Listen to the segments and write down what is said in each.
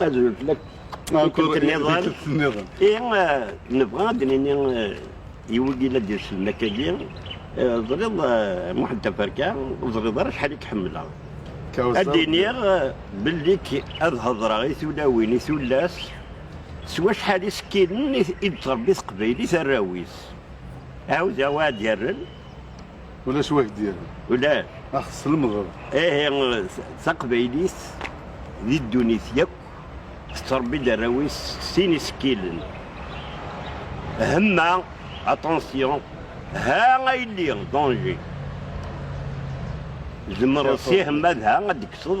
ad zul fell-ak tikkelt-nniḍen i eh, nebɣa ad d-nini eh, yiwen i la d-yeslen akkagi eh, ẓriḍ Muḥend Taferka ur ẓriḍ ara acḥal i k-ḥemmleɣ ad d-iniɣ belli ad hedreɣ i tulawin i tullas s wacḥal isekkilen i d-tṛebbi teqbaylit arraw-is ɛawdeɣ wa ad yerren Ulac wak d-iren. Ulac. Ax teslemdeḍ. Ihi taqbaylit di ddunit yakk tettrebbi-d arraw-is sin isekkilen. Hemma, attention, ha a yelli, danger. Zemreḍ si hemma d ha ad d-kkseḍ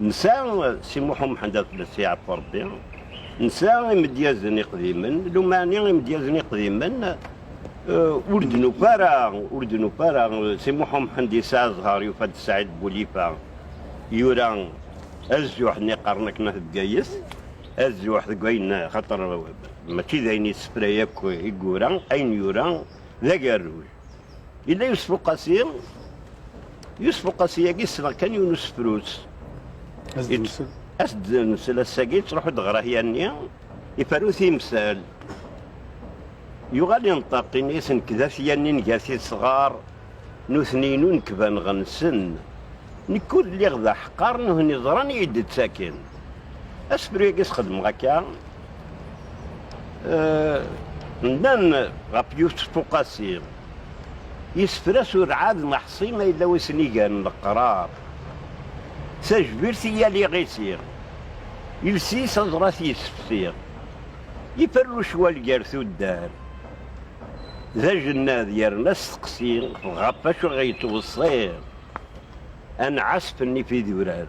Nesɛa Si Muḥ Umḥend At Bessi Ɛeffu Rebbi, nesɛa imedyazen iqdimen, lumɛni imedyazen iqdimen ur d-nufa ara, ur d-nufa ara, Si Muḥ Umḥend yesɛa zzher, yufa-d Saɛid Bulifa, yura azuḥ nni qqaren akken At Bgayet, azuḥ deg wayen xaṭer mačči d ayen yessefray akk i yura, ayen yura d agerruj. Yella Yusef Uqasi, Yusef Uqasi-agi ssneɣ kan yiwen usefrut. As-d-nsel. As-d-nsel ass-agi, yettruḥu-d ɣer ahya-nni, iferru timsal. Yuɣal inṭeq, ini-as nekk d afya-nni n gat isɣar, nutni inu nekk baneɣ-nsen. Nekk ur lliɣ d aḥeqqar, nuhni ẓran-iyi-d-ttakin. Asefru-agi sxedmeɣ akka, Nnan ɣef Yusef Uqasi, yessefra s urɛad n Aḥṣi ma yella wi sen-igan leqrar, tajbirt i yal iɣisi, iles-is aẓrat yessefsi, iferru cwal gar tuddar d ajennad yerna asteqsi ɣef wacu i ɣ-yettweṣṣi anɛasf n ifidurar.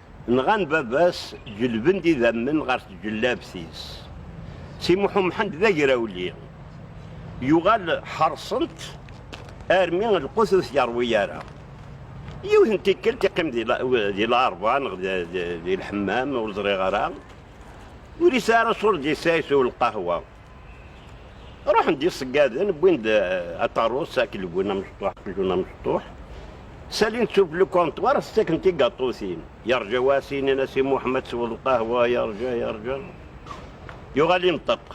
Nɣan baba-s, ǧelben-d idammen ɣer tǧellabt-is. Si Muḥu Mḥend d agrawli, yuɣal ḥerṣen-t armi lqut ur t-yerwi ara. Yiwet n tikkelt iqqim di lɛerba neɣ di lḥemmam, ur ẓriɣ ara, ur yesɛi ara ṣṣur d-yessayes u lqahwa. Ruḥen-d yiseggaden, wwin-d eh, aṭarus, akelgun amecṭuḥ, akelgun amecṭuḥ. Salin tufli ukanṭwar, tettaken tigaṭutin. Yerǧa wasin, in as i Muḥemmed sweḍ lqahwa, yerǧa, yerǧa. Yuɣal inṭeq.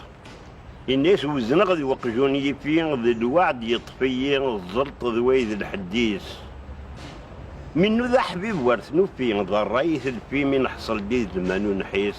Ini-as wezneɣ d weqjun yifi, d lweɛd yeṭṭef-iyi, ẓelṭ d way d lḥeddis. Mi nnuda ḥbib war tnufi, d rray i telfi, mi neḥṣel di ddman ur nḥis.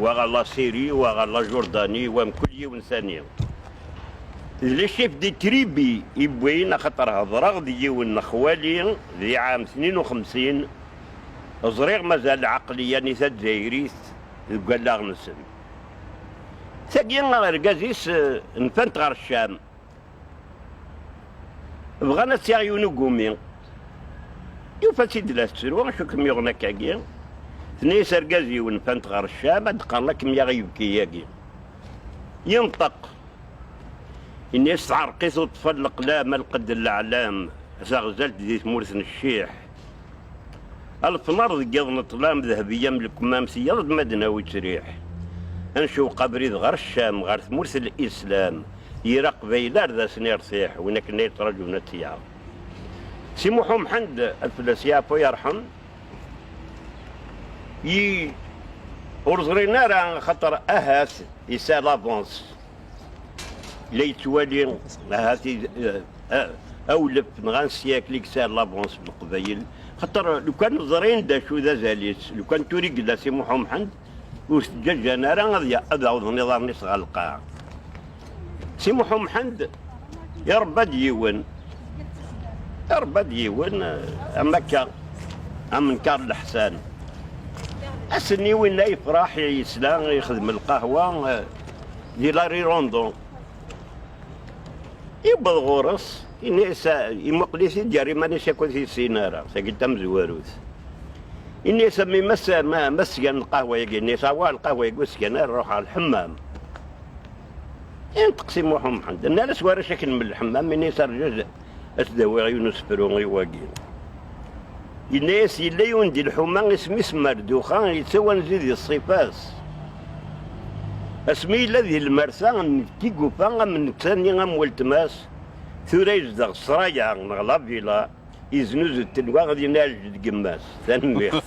wa ɣer Lasiri, wa ɣer Lajurdani, wa mkul yiwen tani. D le chef de tribu i wwin axaṭer hedreɣ d yiwen n xwali di ɛam tnin u xemsin, ẓriɣ mazal lɛeqliya-nni tazzayrit deg wallaɣ-nsen. Tagi argaz-is nfan-t ɣer Ccam. Bɣan ad tt-yaɣ yiwen ugumi. Yufa-tt-id la tettru, acu kem-yuɣen akka-agi? Tenna-yas argaz yiwen fant ɣer Ccam, ad d-qqaren la kem-yaɣ ibki-agi. Yenṭeq. Yenna-yas teɛreq-it uṭfal leqlam, alqedd n leɛlam, taɣzalt di tmurt n cciḥ. Alefnar deg iḍ n ṭṭlam, Dehbiya am lekmam s yiḍ ma d-nawi ţriḥ. Ad ncewweq abrid ɣer Ccam, ɣer tmurt n Islam, Yir Aqbayli ar d asen-iṛtiḥ, win akken ay ţṛaǧun ad ţ-yaɣ. Si Muḥ U Mḥend, ad fell-as yeɛfu yeṛḥem, i ur ẓrin ara axaṭer ahat yesɛa lavance. la yettwali ahat awlef neɣ ansyakl i yesɛa lavons n Leqbayel xaṭer lukan ẓrin d acu d azal-is lukan tura i yella Si Muḥ Umḥend ur s-ǧǧaǧǧan ara ad awḍen iḍarren-is ɣer lqaɛa. Si Muḥ Umḥend iṛebba-d yiwen iṛebba-d yiwen am akka am Nkaṛ Leḥsan. Ass-nni winna yefṛeḥ yesla ixdem lqahwa. di Larry Rondo. Iwweḍ ɣur-s, ini-as imuqel-it-id gar iman-is akk ur t-yessin ara, tagi tamezwarut. Ini-as a mmi ma sgan lqahwa-yagi, ini-as awa lqahwa-yagi ur sgan ara ruḥ ɣer lḥemmam. Inṭeq si Muḥ Umḥend, nnan-as warrac akken mel lḥemmam, ini-as rju Ad t-d-awiɣ yiwen usefru i wagi. Yenna-as, yella yiwen di lḥuma, isem-is Marduxa, yettawanzu di ṣṣifa-s. Asmi yella di lmersa n tigufa am netta-nni am weltma-s, tura yezdeɣ ssṛaya neɣ lavila, yeznuzu-d tenwaɣ dinna deg yemma-s. Tanemmirt.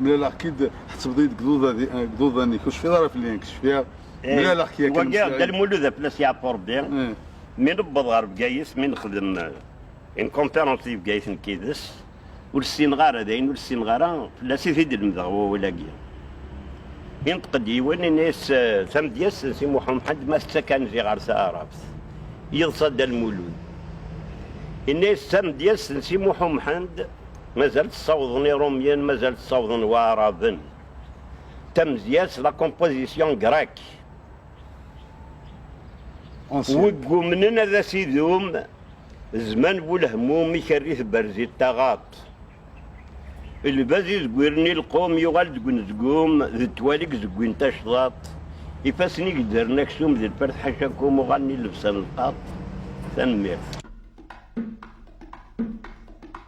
ملالخ-k-id tḥettbeḍ-iyi-d deg iḍudan deg iḍudan-ik ur tecfiḍ ara fell-i nekk cfiɣ mlaleɣ-k yakan wagi Dda Lmulud ad fell-as yeɛfu Rebbi mi newweḍ ɣer Bgayet mi nexdem une conférence di Bgayet nekk yid-s ur ssineɣ ara d ayen ur ssineɣ ara fell-as i t-id-lemdeɣ wawal-agi inṭeq-d yiwen ini-as tamedyazt n Si Muḥ Umḥend ma tettak anzi ɣer taɛrabt yeḍsa Dda Lmulud ini-as tamedyazt n Si Muḥ Umḥend Mazal ssawḍen Irumyen, mazal ssawḍen Waɛraben. Tamezya-s, la composition grecque. Wegg umnen ad as-idum zman bu lehmum i kerri tberzi taɣaṭ. Lbaz i zegwiren i lqum yuɣal deg unezgum d ttwal i gezegwin tacḍaṭ. Ifassen i geddren aksum d lfert ḥacakum uɣalen i lebsa n lqaṭ. Tanemmirt.